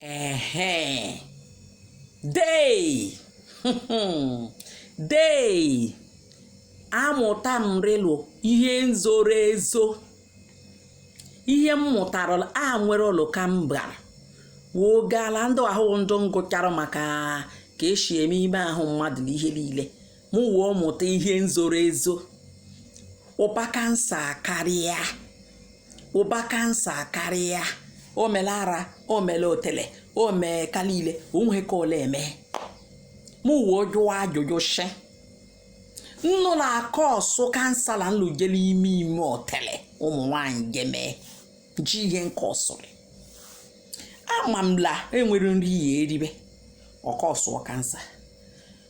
Ehe. Dey. Dey. Amụta m rịlụ ihe nzoro ezo. Ihe m mụtara e nwere ụlọ ka m bara. Wogala ndụ ahụ ndụ ngụchara maka ka eshi eme ime ahụ mmadụ na ihe lile. mụ wee mụta ihe nzoro ezo ụba kansa karịa ụba kansa karịa o mele ara o mele otele o mee aka lile o nwe ka ọ le eme mụ wee jụọ ajụjụ shi nnụ na-akọọsụ kansa na nlụjele ime ime otele ụmụ nwanyị gemee ji ihe nke ọsụrị ama m la e nwere nri ya eribe ọ kọsụọ kansa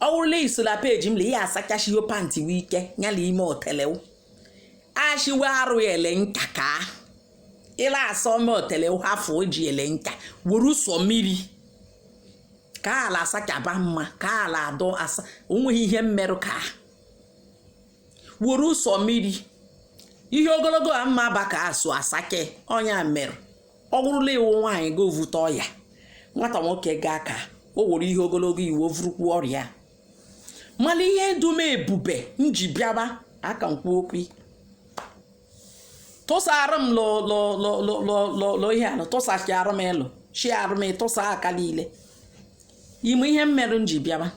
ọ wụrụ la i so la peji m le ya asachashiwo pantị we ike nyala ime otelew ashiwe arụ ele nka ka ị la asa ime otelew hafụ o ji ele nka werụ sọ mmiri ka a la asachaba mma ka a la adọ asa o nweghị ihe mmerụ ka werụ sọ mmiri ihe ogologo a mma baka asụ asake onye merụ ọ wụrụ la ị wụ nwaanyị ga evute ọya nwata nwoke ga aka o wuru ihe ogologo iwu ovurukwu ọrịa mana ihe dum ebube m ji bịaba aka nkwu okwu tụsara m lọ ihe anụ tụsachara m ịlụ shi arụ m ịtụsa aka lile ime ihe m mere m ji bịaba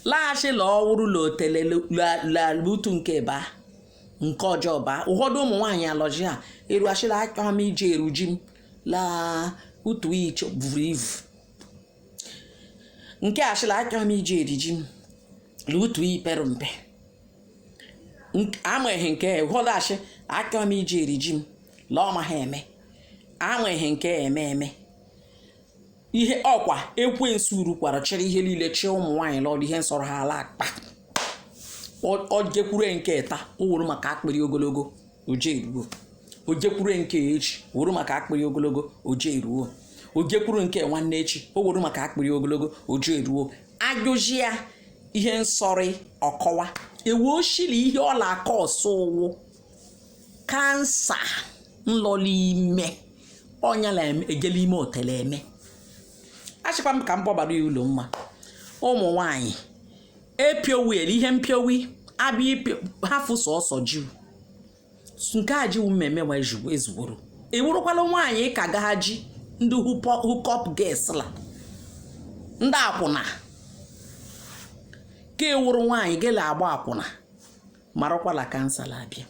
laghachila ọ wụrụ la otele la utu nke baa nke ọjọ baa ụfọdụ ụmụ nwaanyị alọ ji a erua shị la achọ m ije eri ji m la utu iche vuru ivu nke ashị la achọ m ije eri ji m la utu i pere mpe amaghị nke ụfọdụ ashị achọ m ije eri ji m la ọ maghị eme amaghị nke eme eme ihe ọkwa ekwensu rukwara chịrị ihe lile chị ụmụ nwaanyị lọdụ ihe nsọrọ ha a la akpa o jekwuru nke ta o wuru maka akpịrị ogologo oje eruo o jekwuru nke echi o wuru maka akpịrị ogologo oje eruo o jekwuru nke nwanne echi o wuru maka akpịrị ogologo oje eruo ajụji ya ihe nsọrị ọ kọwa ewu o shi li ihe ọ la akọọsụ wụ kansa nlọli ime ọnya na ejele ime otele eme ashịkwa m ka m kpọbara ya ụlọ mma ụmụ nwanyị epiowi ele ihe mpiowi abịa ipio hafụ sọsọ jiw nke a jiwu mmemme nwa ezugboro i wurukwala nwaanyị ka gaha ji ndị hookup girls la ndị akwụna ka i wuru nwaanyị gele agba akwụna marakwala cancer la-abịa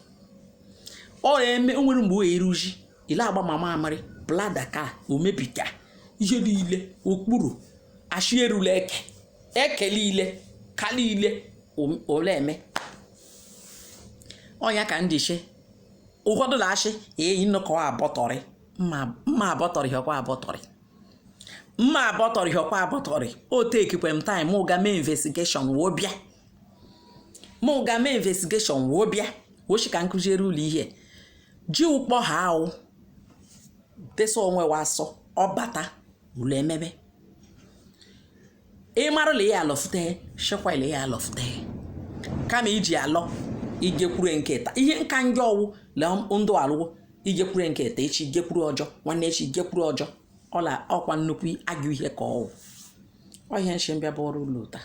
ọ eme o nwere mgbe o eruji ile agba ma mamịrị bladder ka o mebiga ihe niile okpuru achị erula eke eke niile ka niile om- ole eme ọnya ka ndị che ụfọdụ na-achị eyi nnọkọ abọtọrị mma mma abọtọrị hịọkwa abọtọrị mma abọtọrị hịọkwa abọtọrị o tekikwe m time mụ ga mee investigation woo bịa mụ ga mee investigation wee bịa wo shị ka m kụziere ụlọ ihe ji ụkpọ ha ahụ desa onwe wa asọ ọ bata ụlọ emebe ị marụla ya alọfute shekwala ya alọfute kama iji alọ igekwuru nke taa ihe nka njọ ọ wụ le ndụ alụwo igekwuru nke taa echi gekwuru ọjọ nwanne echi gekwuru ọjọ ọla ọ kwa nnukwu agụ ihe ka ọ wụ ọhịa nshi m bịa bụ ọrụ ụlọ taa